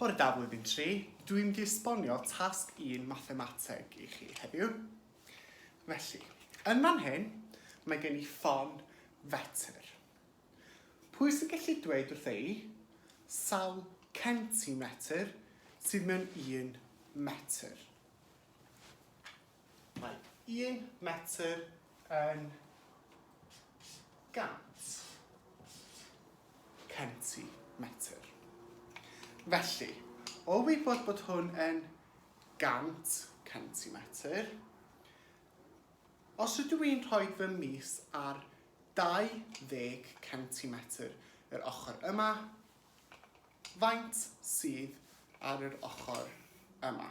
Bore da Blwyddyn Tri, dw i'n mynd i esbonio tasg un mathemateg i chi heddiw. Felly, yn fan hyn, mae gen i ffon fetr. Pwy sy'n gallu dweud wrtha i sawl centimetr sydd mewn un metr? Mae un metr yn gant centimetr. Felly, o wybod bod hwn yn gant centimetr, os ydw i'n rhoi fy mis ar 20 centimetr yr ochr yma, faint sydd ar yr ochr yma?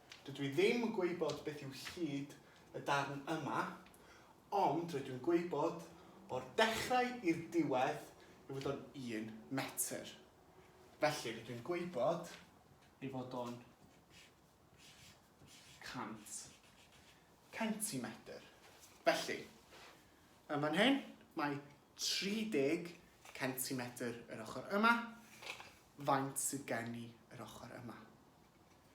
Dydw i ddim yn gwybod beth yw hyd y darn yma, ond rydw i'n gwybod o'r dechrau i'r diwedd ei fod o'n un metr. Felly, rydw i'n gwybod ei fod o'n 100 centimetr. Felly, yn fan hyn, mae 30 centimetr yr ochr yma. Faint sydd gen i yr ochr yma?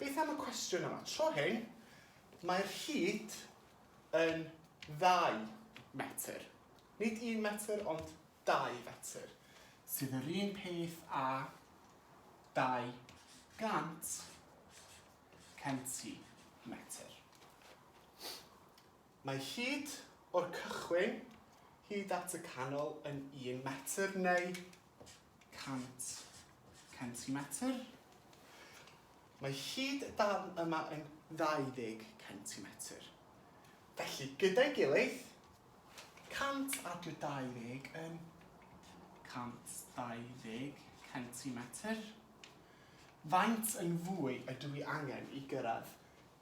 Beth am y cwestiwn yma? Tro hyn, mae'r hyd yn ddau fetr. Nid un metr, ond dau fetr, sydd yr un peth â 200 centimetr. Mae hyd o'r cychwyn hyd at y canol yn un metr neu 100 centimetr. Mae hyd y darn yma yn 20 centimetr. Felly, gyda'i gilydd, 100 ar dy 20 yn 120 centimetr. Faint yn fwy ydw i angen i gyrraedd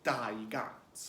200?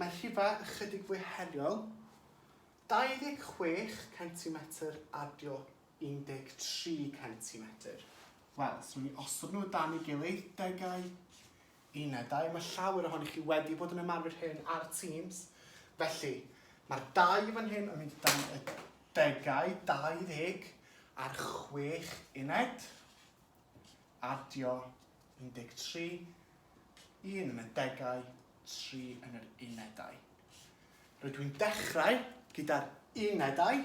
Mae rhife ychydig fwy heriol, 26 centimetr adio 13 centimetr. Wel, os nawn ni osod nhw o dan ei gilydd, degau, unedau, mae llawer ohoni chi wedi bod yn ymarfer hyn ar Teams. Felly, mae'r dau fan hyn yn mynd o dan y degau, 20 a'r 6 uned. Adio, 13, un yn y degau, tri yn yr unedau. Rydw i'n dechrau gyda'r unedau,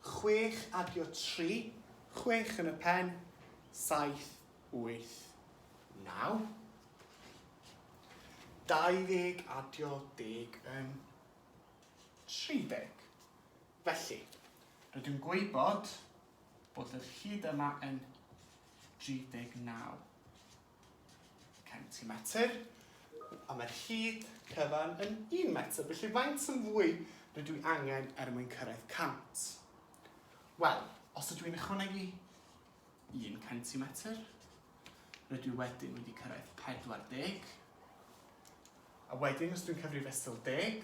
chwech adio tri, chwech yn y pen, saith, wyth, naw. 20 adio deg yn 30. Felly, rydw i'n gwybod bod yr hyd yma yn 39 centimetr, a mae'r hyd cyfan yn 1 metr. Felly, faint yn fwy rydw i angen er mwyn cyrraedd 100? Wel, os ydw i'n ychwanegu 1 centimetr, rydw i wedyn wedi cyrraedd 40, a wedyn os dwi'n cyfrif fesul deg,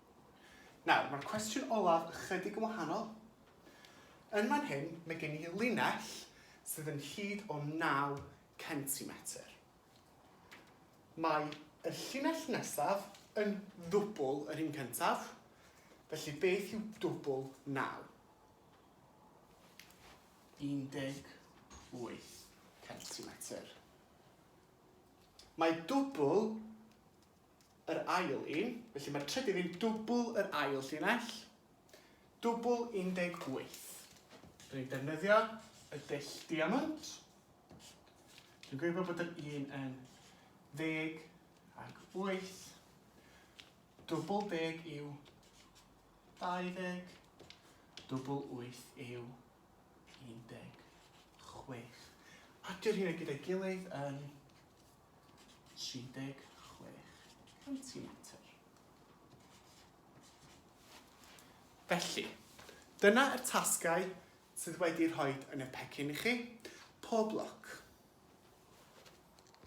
Nawr, mae'r cwestiwn olaf ychydig yn wahanol. Yn fan hyn, mae gen i linell sydd yn hyd o 9 centimetr. Mae y llinell nesaf yn ddwbl yr un cyntaf, felly beth yw dwbl 9? 18 centimetr. Mae dwbl yr ail un, felly mae'r trydydd yn dwbl yr ail llinell, dwbl 18. Rydyn ni'n defnyddio y dull diamwnt. Dwi'n gwybod bod yr un yn ddeg ac wyth. Dwbl deg yw 20, dwbl wyth yw 16. A dyr hynny gyda'i gilydd yn 36 centimetr. Felly, dyna yr tasgau sydd wedi rhoid yn y pecyn i chi. Pob lwc!